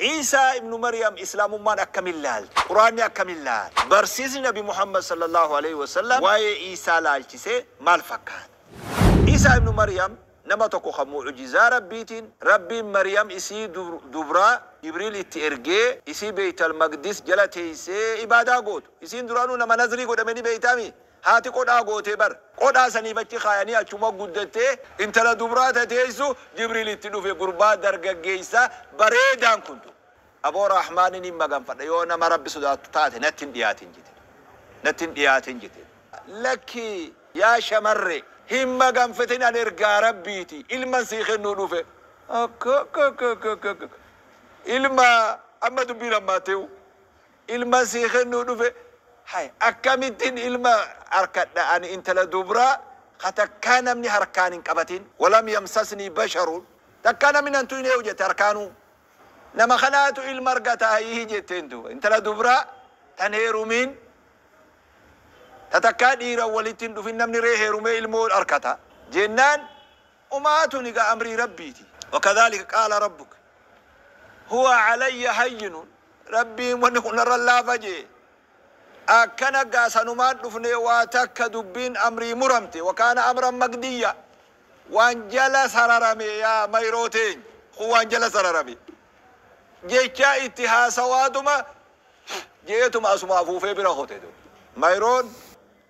Iisaa ibnu Maryam Islaamummaan akkamiin laalti? Qur'aanni akkamiin laala? Barsiisni Nabi Muhammad sallallaahu aleyhi wa sallam waa'ee Iisaa laalchisee maal fakkaata? Iisaa ibnu Maryam nama tokko kan mu'ujizaa Rabbiitiin Rabbiin Maryam isii dubraa Jibriil itti ergee isii Beeytal Maqdis jala teeysee ibaadaa gootu. Isiin duraanuu nama nazrii godhame ni beeytaa mii? Haati qodhaa gootee bar. Qodhaa saniif achi kaayanii achuma guddattee intala dubraa tateessu Jibriil itti dhufe gurbaa dargaggeessa bareedaan kun duuba. Aboo Rahmaani niin maganfadha yoo nama Rabbi sodaattu taate natti hin dhiyaatin jeteen. Natti hin dhiyaatin jeteen. Lakki yaa shamarre hin maganfatin an ergaa Rabbiiti ilman sii kennuu dhufe. Akkakakakakakak ilma amma dubbiin hammaattee uu. ilman sii kennuu dhufe hay akkamittin ilma arkadha ani intala dubra ka takkaa namni harkaan hin qabatin walam yamsasnii basharun takkaa namni nan tuyne yoo jette harkaanuu nama kanaatu ilma argata hayii jetteen duuba intala dubra tan heerumin ta takkaa dhiiran walitti hin dhufin namni ree heerumee ilmoo arkata jennaan Umaa tuni gaa amrii Rabbiiti. Wakadhaalika qaala Rabbuka huwa alayya hayyinun Rabbiin wanni kun narra laafa je'e. Akkana gaa sanumaan dhufnee waa takka dubbiin amrii muramte wakaana amran maqdiyya waan jala sararame yaa mayroo teenya kun waan jala sararame jechaa itti haasawaatuma je'eetuma asuma afuufee bira kote dub mayroon.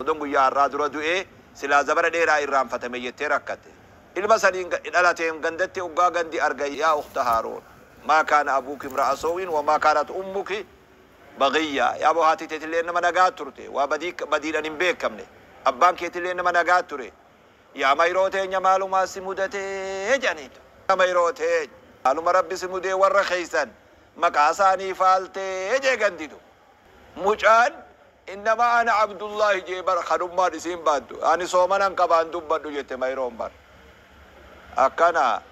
Odoon guyyaa har'aa dura du'ee silaa zabara dheeraa irraanfatame jettee rakkatte. Ilma saniin dhalateen gandatti oggaa gandi argan yaa ukhta Haaruun maa kaana abuuki imra'a soo'in wa maa kaanat ummuki baghiyyaa yaaboo haati teetilleen nama nagaa turte waa badii badiidhan hin beekamne abbaan keetilleen nama nagaa ture yaa mayroo teenya maalumaa si mudate jedhaniin yaa mayroo teenya maaluma rabbi si mudee warra keessan maqaa isaanii faaltee jee gandi dub. Mucaan innama ana Abdullahi jee bar kadhummaan isiin baattu ani soomanan qaba hin dubbadhu jette Mayroon bar akkana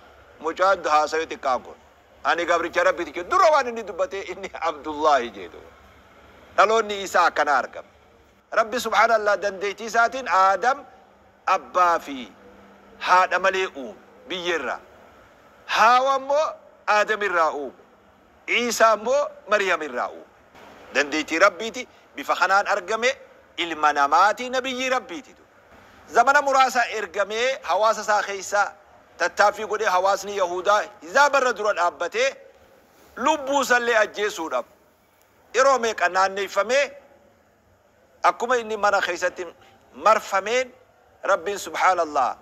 mucaan haasawe xiqqaan kun ani gabricha rabbiti jee dura waan inni dubbatee inni Abdullahi jee duba dhaloonni Iisaa akkanaa argame rabbi subhaan Allah dandeytii isaatiin Aadam abbaa fi haadha malee uume biyyee irraa Haawa immoo Aadam irraa uume Iisaa immoo Maryam irraa uume. Dandeettii Rabbiiti bifa kanaan argame, ilma namaati, nabiyyii Rabbiiti ture. Zamana muraasa ergamee hawaasa isaa keessa tattaaffii godhee hawaasni Yahuudaa hizaaba irra dura dhaabbatee lubbuu isallee ajjeesuudhaaf yeroo meeqa naanneeffamee Akkuma inni mana keessatti marfameen Rabbiin subhaana Allaah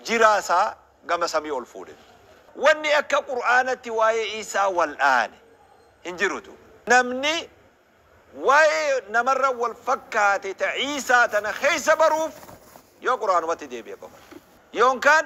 jiraa isaa gama samii ol fuudhe. Wanni akka Qur'aanatti waa'ee Iisaa wal'aane hin jirutu. Namni waa'ee namarra wal fakkaate ta Iisaa tana keessa baruuf yoo Qur'aanumatti deebi'e qofa. Yoonkaan.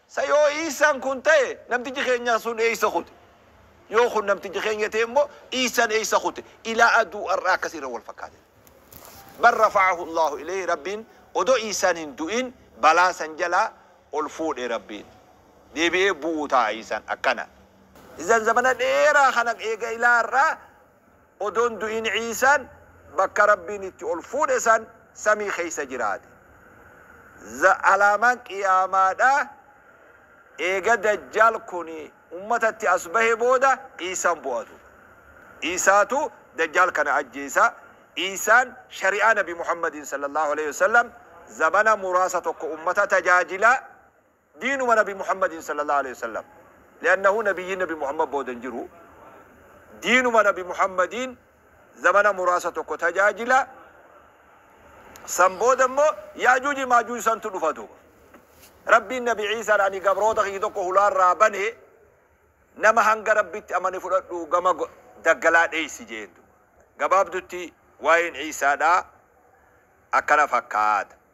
Sa yoo Iissaan kun ta'e namtichi keenyaa sun eeysa kute? Yoo kun namticha keenya ta'e immoo Iissaan eeysa kute? Ilaa aduu ar'aa akkasi irra wal fakkaate. Bal rafa'ahu Allaahu ilayhi Rabbiin odoo Iissaan hin du'in balaa san jalaa ol fuudhe Rabbiin. Deebi'ee bu'uu ta'a Iissaan. Akkana. Izzaan zamana dheeraa kana eega ilaa ar'aa Odoo hin du'in Iisaan bakka Rabbiin itti ol fuudhe san samii keessa jiraate. Z Alaamaan Qiyaamaadhaa eega Dajjaal kun ummatatti as bahe booda Iisaan bu'atu. Iisaatu Dajjaal kana ajjeesa. Iisaan shari'aa Nabi Muhammadiin, Sallallaahu aleyhi wa sallam, zabana muraasa tokko ummata tajaajila. Diinuma nabi Muhammadiin sallallahu aleyh wasallam li'annahu nabiyyiin nabi Muhammad booda hin jiru diinuma nabi Muhammadiin zamana muraasa tokko tajaajila san booda immoo yaajuuji maajuuj santu dhufa duuba rabbiin nabi Iisaan ani gabroota kiyya tokko hulaarraa bane nama hanga rabbitti amane fudhadhu gama go- daggalaa dheeysi jeen duuba gabaabdutti waa'een Iisaadhaa akkana fakkaata